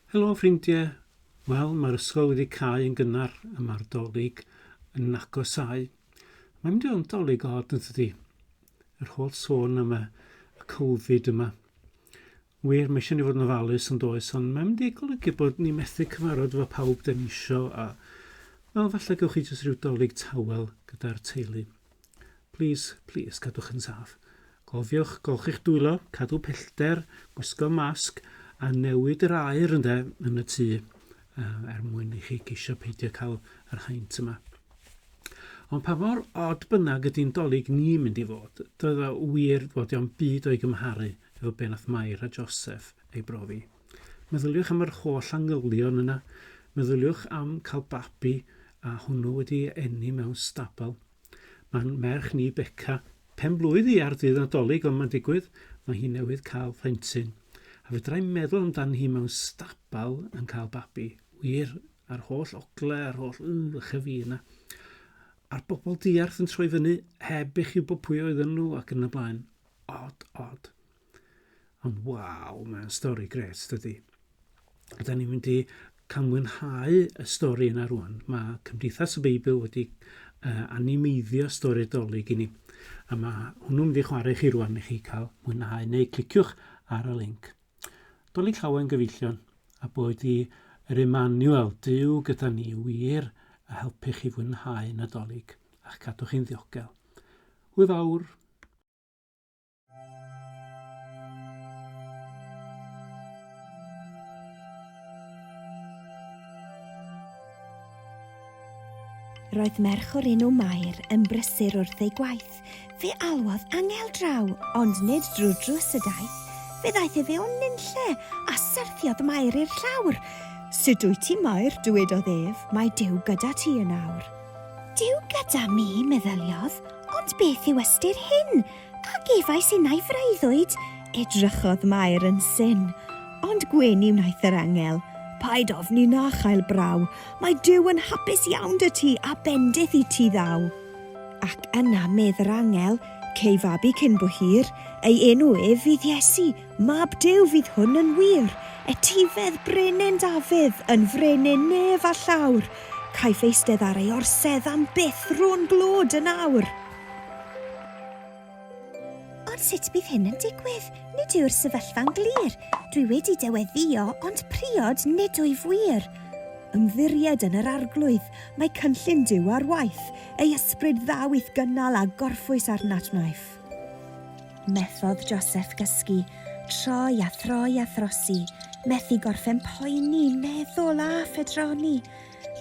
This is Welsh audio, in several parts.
Helo ffrindie! Wel, mae'r ysgol wedi cau yn gynnar a mae'r dolig yn agosáu. Mae'n mynd i fod yn dolig od yn tydi? Yr holl sôn am y, y Covid yma. Wir, mae eisiau ni fod yn ofalus yn does, ond mae'n mynd i golygu bod ni methu cyfarfod efo pawb da ni isio a... Wel, falle gewch chi jyst rhyw dolig tawel gyda'r teulu. Plîs, plîs, cadwch yn saff. Cofiwch golchi'ch dwylo, cadw pellter, gwisgo masg, a newid yr aer ynde, yn y tŷ, er mwyn i chi geisio peidio cael yr haint yma. Ond pa mor od bynnag ydy'n dolyg ni'n mynd i fod, doedd o wir fod o'n byd o'i gymharu fel be nath Mair a Joseph ei brofi. Meddyliwch am yr holl angylion yna, meddyliwch am cael babi a hwnnw wedi eni mewn stabal. Mae'n merch ni Beca, pen blwydd hi ar ddydd Nadolig ond mae'n digwydd, mae hi newydd cael phlentyn. A fedrai meddwl amdan hi mewn stabal yn cael babi, wir, a'r holl ogle a'r holl ych a fi yna. A'r bobl diarth yn troi fyny heb eich wybod pwy oedden nhw ac yn y blaen. odd, odd. Ond waw, mae'n stori gret, dydy. Ydy ni'n mynd i cael mwynhau y stori yna rwan. Mae Cymdeithas y Beibl wedi uh, animeiddio stori'r dolyg i ni. A mae hwnnw'n mynd i chwarae chi rwan i chi cael mwynhau neu cliciwch ar y link. Dolyg llawen gyfeillion a bod i yr Emmanuel, Dyw gyda ni wir a helpu chi fwynhau Nadolig a'ch cadw chi'n ddiogel. Hwyl fawr! Roedd merch o'r enw Mair yn brysur wrth ei gwaith. Fe alwodd angel draw, ond nid drwy drws y daith. Fe ddaeth efe o'n nunlle, a syrthiodd Mair i'r llawr. Sut wyt ti, Mair? dywedodd ef, mae Duw gyda ti yn awr. Duw gyda mi, meddyliodd, ond beth yw ystyr hyn? A gefais innau freuddwyd? Edrychodd Mair yn syn, ond gwyn i wnaeth yr angel. Paid ofni na chael braw, mae Duw yn hapus iawn 'da ti a bendith i ti ddaw. Ac yna medd yr angel, Cei fabi cyn bo hir, ei enw ef fydd Iesu, Mab Duw fydd hwn yn wir, etifedd brenin Dafydd, yn frenin nef a llawr, caiff eistedd ar ei orsedd am byth rôn glod yn awr. Ond sut bydd hyn yn digwydd? Nid yw'r sefyllfa'n glir. Dwi wedi dy weddio, ond priod nid wyf wir. Ymddiried yn yr Arglwydd, mae cynllun Duw ar waith, ei ysbryd ddaw i'th gynnal a gorffwys arnat wnaiff. Methodd Joseph gysgu, troi a throi a throsi, methu gorffen poeni, meddwl a phedroni.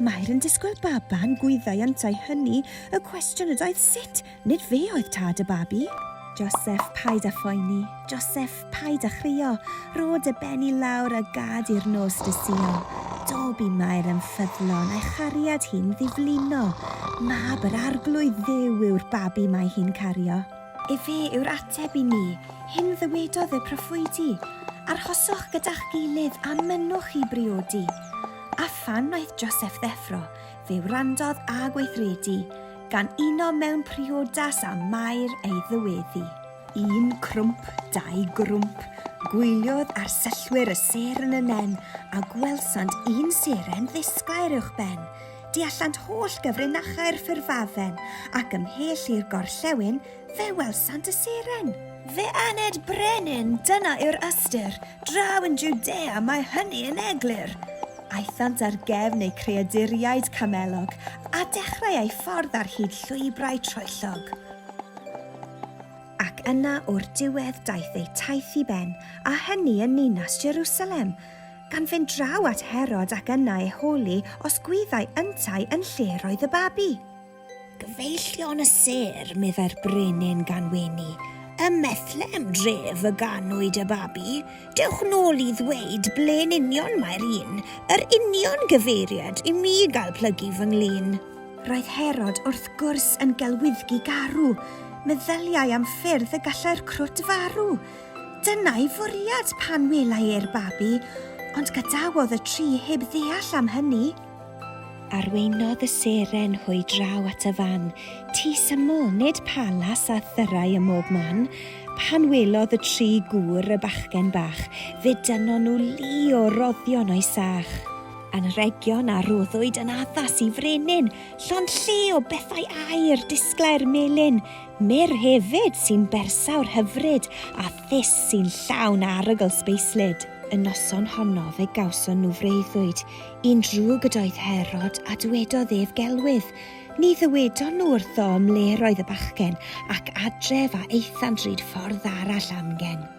Mair yn disgwyl baban, gwyddai yntau hynny, y cwestiwn ydoedd sut, nid fe oedd tad y babi. Joseph, paid â phoeni, Joseph, Paid a chrio, ro dy ben i lawr a gad i'r nos dy suo. Dob i Mair yn ffyddlon a'i chariad hi'n ddiflino. Mab yr Arglwydd Dduw yw'r babi mae hi'n cario. Efe yw'r ateb i ni, hyn ddywedodd y proffwydi, Arhoswch gyda'ch gilydd a mynnwch i briodi. A phan wnaeth Joseff ddeffro, fe wrandodd a gweithredu, gan uno mewn priodas â Mair ei ddyweddi. Un crwmp, dau grwmp, gwyliodd arsellwyr y sêr yn y nen, a gwelsant un seren ddisglair uwch ben. Deallant holl gyfrinachau'r ffurfafen, ac ymhell i'r gorllewin, fe welsant y seren. Fe aned brenin, Dyna yw'r ystyr, draw yn Jwdea mae hynny yn eglur. Aethant ar gefn eu creaduriaid camelog, a dechrau eu ffordd ar hyd llwybrau troellog. Ac yna o'r diwedd daeth eu taith i ben, a hynny yn ninas Jerusalem, gan fynd draw at Herod ac yna ei holi os gwyddai yntau yn lle yr oedd y babi. Gyfeillion y sêr, meddai'r brenin gan wenu, ym Methlehem dref y ganwyd y babi, dewch nôl i ddweud ble'n union mae'r un, yr union gyfeiriad i mi gael plygu fy nglin. Roedd Herod wrth gwrs yn gelwyddgi garw, meddyliai am ffyrdd y gallai'r crwt farw. Dyna'i fwriad pan welai e'r babi, ond gadawodd y tri heb ddeall am hynny. Arweinodd y seren hwy draw at y fan, tŷ syml, nid palas â thyrrau ym mhob man. Pan welodd y tri gŵr y bachgen bach, fe dynnon nhw lu o roddion o'i sach. Anrhegion a roddwyd yn addas i frenin, llond-lle o bethau aur, disglair melyn, mur hefyd sy'n bersawr hyfryd, a thus sy'n llawn arogl sbeislyd. Y noson honno fe gawson nhw freuddwyd, un drwg ydoedd Herod, a dwedodd ef gelwydd. Ni ddywedon nhw wrtho ym mle'r oedd y bachgen, ac adref a aethant ryd ffordd arall amgen.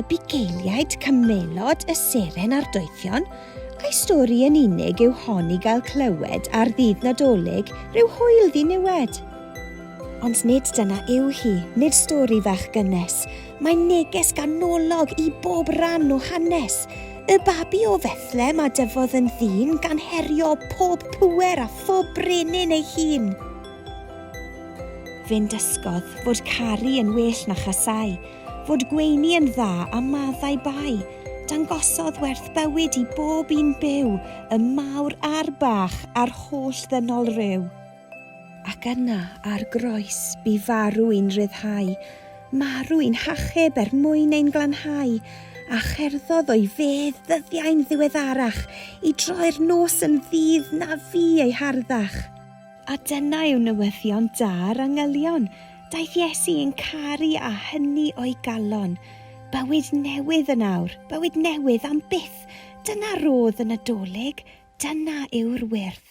y bugeiliaid cymelod y seren a'r doethion, a'i stori yn unig yw hon i gael clywed ar ddydd Nadolig rhyw hwyl ddiniwed. Ond nid dyna yw hi, nid stori fach gynnes, mae neges ganolog i bob rhan o hanes. Y babi o Fethlem a dyfodd yn ddyn gan herio pob pwer a phob brenin ei hun. Fe'n dysgodd fod caru yn well na chasau, fod gweini yn dda a maddau bai, dangosodd werth bywyd i bob un byw, y mawr a'r bach, a'r holl ddynol ryw. Ac yna, ar groes, bu farw i'n rhyddhau, marw i'n hachub er mwyn ein glanhau, a cherddodd o'i fedd ddyddiau'n ddiweddarach, i droi'r nos yn ddydd na fu ei harddach. A dyna yw newyddion da'r angylion, daeth Iesu i'n caru a hynny o'i galon. Bywyd newydd yn awr, bywyd newydd am byth, dyna rodd y Nadolig, dyna yw'r wyrth.